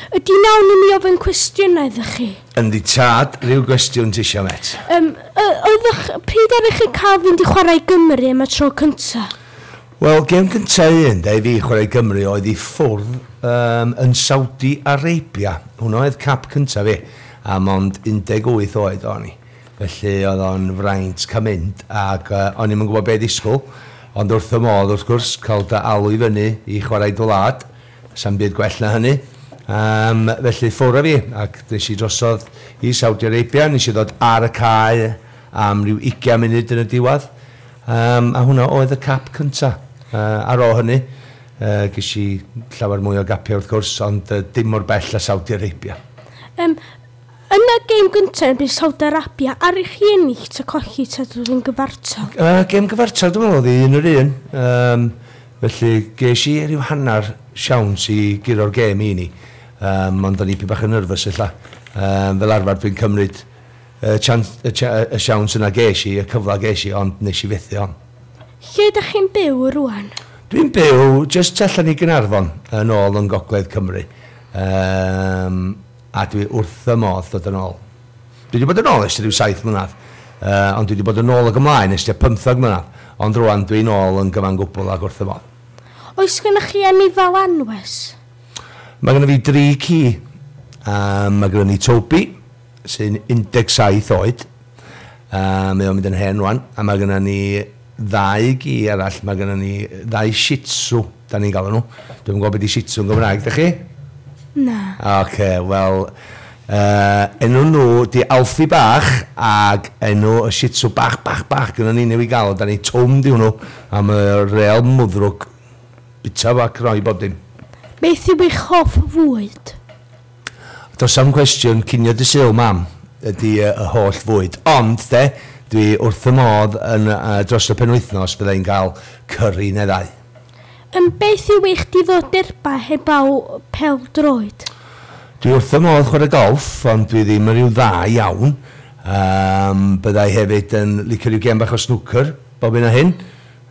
Ydy na wn i mi ofyn cwestiwn iddo chi. Yndi tad, rhyw gwestiwn tisio met? Yym, y- oeddech, pryd aru chi cael fynd i chwarae Gymru am y tro cynta? Wel, gem gynta un da i fi chwarae Gymru oedd i ffwrdd um, yn Saudi Arabia. Hwna oedd cap cynta fi, a mond 18 oed o'n i. Felly oedd o'n fraint cael mynd, ac uh, o'n i'm yn gwybod be ddisgwyl, ond wrth y modd wrth gwrs cael dy alw i fyny i chwarae dy wlad, Sa'm byd gwell na hynny. Yym, felly ffwr â fi, ac des i drosodd i Saudi Arabia, nes i ddod ar y cae am ryw ugian munud yn y diwadd, yym, a hwnna oedd y cap cynta. Yy, ar ôl hynny, yy, ges i llawer mwy o gapiau wrth gwrs, ond yy, dim mor bell â Saudi Arabia. Yym, Yn y gêm gyntaf yn erbyn Saudi Arabia, aru chi ennill ta colli ta dod yn gyfartal? Yy gêm gyfartal dwi'n meddwl oedd hi un yr un, yym felly ges i ryw hanner siawns i guro'r gêm i ni, yym ond o'n i ipyn bach yn nyrfys ella, yym fel arfer dwi'n cymryd y chance y ch- y y siawns yna ges i, y cyfle ges i ond nes i fethu on. Lle ydach chi'n byw rŵan? Dwi'n byw jyst tu allan i Gaernarfon, yn ôl yng Ngogledd Cymru. Yym. a dwi wrth fy modd dod yn ôl. Dwi 'di bod yn ôl ers ryw saith mlynedd, yy, ond dwi 'di bod yn ôl ag ymlaen ers tua pymtheg mlynedd, ond rŵan dwi'n ôl yn gyfan gwbl ac wrth fy modd. Oes gennych chi eni fel anwes? Mae gynno fi dri ci. Yym, mae gynno ni Toby, sy'n 17 oed. Yy, mae o'n mynd yn hen rŵan. A mae gynno ni ddau gi arall. Mae gynno ni ddau Shih Tzu. Da ni'n galw nhw. Dwi'm yn gwybod beth i shih tzu yn Gymraeg, da chi? Na. Oce, wel, uh, enw nhw di Alfie Bach ag enw y shih tzu bach, bach, bach gyda ni newid gael, da ni twm di hwnnw am y real mwddrwg bita fo ac roi bob dim. Beth yw eich hoff fwyd? Does am cwestiwn cinio dy syl, mam, ydy y holl fwyd. Ond, de, dwi wrth y modd yn, uh, dros y penwythnos, byddai'n cael cyrri neddau. Ym beth yw eich diddordebau heblaw pêl-droed? Dwi wrth fy modd chwarae golff, ond dwi ddim yn rhyw dda iawn. Yym, byddai hefyd yn licio rhyw gêm bach o snwcer bob hyn a hyn.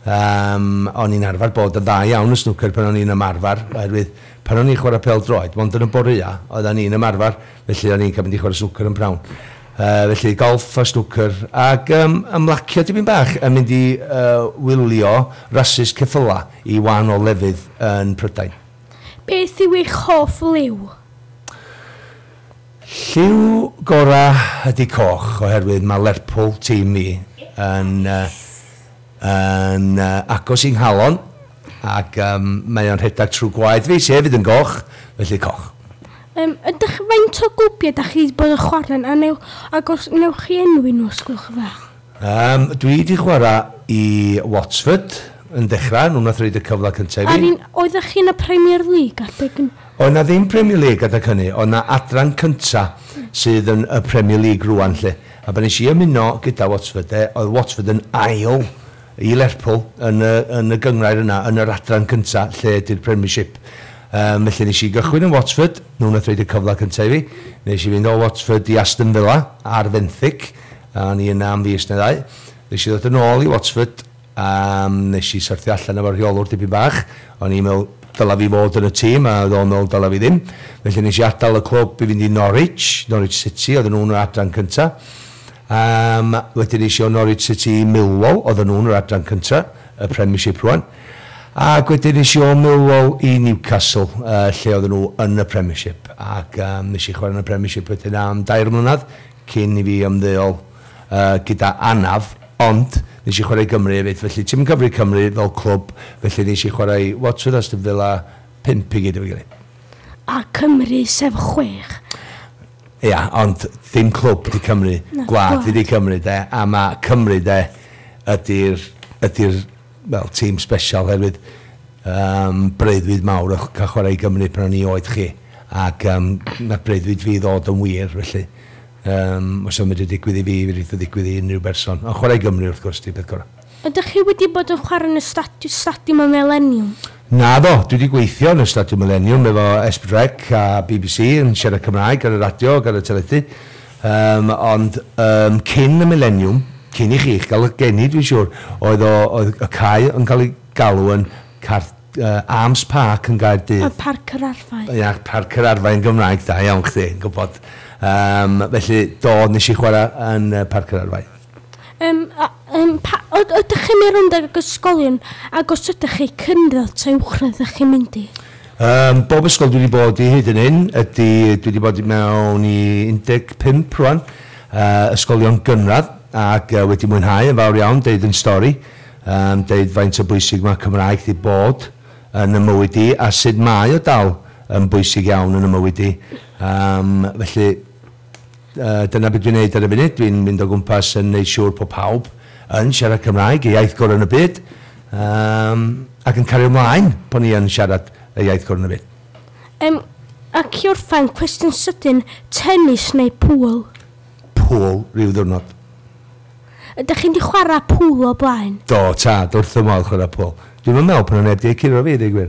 Yym, o'n i'n arfer bod yn dda iawn yn snwcer pan o'n i'n ymarfer, oherwydd pan o'n i'n chwarae pêl-droed, mond yn y boreau oeddan ni'n ymarfer, felly o'n i'n cael mynd i chwarae snwcer yn p'nawn. Yy, felly, golff a snwcer, ac yym ymlacio dipyn bach yn mynd i yy wylio rasys ceffylau i wahanol lefydd yn Prydain. Beth yw eich hoff liw? Lliw gora ydi coch, oherwydd mae Lerpwl, tîm ni, yn yy yn yy agos i nghalon, ac yym mae o'n rhedeg trwy gwaed fi, sy hefyd yn goch, felly coch. Yym, ydych, faint o gwpiau da chi wedi bod yn chwarae'n a neu, ac os newch chi enwi nhw os gwelwch yn dda? Yym, dwi wedi chwarae i Watford yn dechrau, nhw wnaeth roid y cyfle cyntaf i fi. A'r un, oeddech chi yn y Premier League adeg hynny? Oedd na ddim Premier League adeg hynny, oedd na adran cyntaf sydd yn y Premier League rŵan 'lly, a pan nes i ymuno gyda Watford de, oedd Watford yn ail i Lerpwl yn y yn y gynghrair yna yn yr adran cynta lle ydy'r Premiership yym felly nes i gychwyn yn Watsford nhw nath roid y cyfle cynta i fi nes i fynd o Watsford i Aston Villa ar fenthyg a o'n i yna am fis neu ddau nes i ddod yn ôl i Watsford a yym nes i syrthio allan efo'r rheolwr dipyn bach o'n i'n me'wl dyla fi fod yn y tîm a o'dd o'n me'wl dyla fi ddim felly nes i adal y clwb i fynd i Norwich Norwich City oedden nhw'n yr adran cynta Yym, wedyn es i o Norwich City i Millwall, oedden nhw'n yr adran cynta, y Premiership rŵan. Ac wedyn es i o Millwall i Newcastle, yy, lle oedden nhw yn y Premiership. Ac yym, nes i chwarae yn y Premiership wedyn am dair mlynedd, cyn i fi ymddeol, yy, gyda anaf. Ond, nes i chwarae i Gymru hefyd, felly ti'm yn cyfri Cymru fel clwb, felly nes i chwarae i Watford, Aston Villa, pump i gyd efo'i gilydd. A Cymru, sef chwech. Ia, ond dim clwb ydi Cymru, gwlad ydi Cymru 'de, a ma' Cymru 'de ydi'r ydi'r wel tîm sbesial oherwydd yym breuddwyd mawr o'ch cael chwarae i Gymru pan o'n i oed chi ac yym mae breuddwyd fi ddod yn wir felly yym os o'n mynd i digwydd i fi fe rith o ddigwydd i unrhyw berson ond chwarae i Gymru wrth gwrs di peth gorau. Ydych chi wedi bod yn chwarae yn y stadi- Stadiwm y Mileniwm? Naddo, dwi 'di gweithio yn y Stadiwm Mileniwm efo Esbyd Rec a bbc yn siarad Cymraeg ar y radio ac ar y teledu. Yym, ond yym cyn y Mileniwm, cyn i chi'ch gael 'ych geni dwi'n siŵr, oedd o, oedd y cae yn cael ei galw yn Carth- yy Arms Park yn Gaerdydd. Parc yr Arfau. Ia, Parc yr Arfau yn Gymraeg, da iawn chdi yn gwybod. Yym, felly, do, wnes i chwarae yn yy Parc yr Arfau. Yym, a, um, pa, yd, ydych chi'n mynd rownd ag ysgolion ac os ydych chi, cynradd ta uwchradd ydych chi'n mynd i? Um, bob ysgol dwi wedi bod i hyd yn hyn ydy, dwi wedi bod mewn i 15 rwan, uh, ysgolion gynradd, ac uh, wedi mwynhau yn fawr iawn, deud yn stori, um, deud faint o bwysig mae Cymraeg di bod yn y mywyd i, a sut mae o dal yn bwysig iawn yn y mywyd i. Um, felly, Dyna be dwi'n neud ar y funud, dwi'n mynd o gwmpas yn neud siŵr bod pawb yn siarad Cymraeg, y iaith gorau yn y byd, um, ac yn cario ymlaen bod ni yn siarad y iaith gorau yn y byd. Um, ac i orffen, cwestiwn sydyn, tennis neu pŵl? Pŵl, rhyw ddwrnod. Ydych chi'n di chwarae pŵl o blaen? Do, tad, wrth y modd chwarae pŵl. Dwi'n meddwl pan o'n neb di ei curo fi, dweud gwir.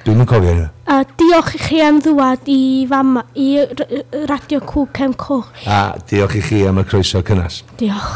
Dwi'm yn cofio hynna. A diolch i chi am ddwad i fama, i Radio Cŵn Cefn Coch. A diolch i chi am y croeso cynnes. Diolch.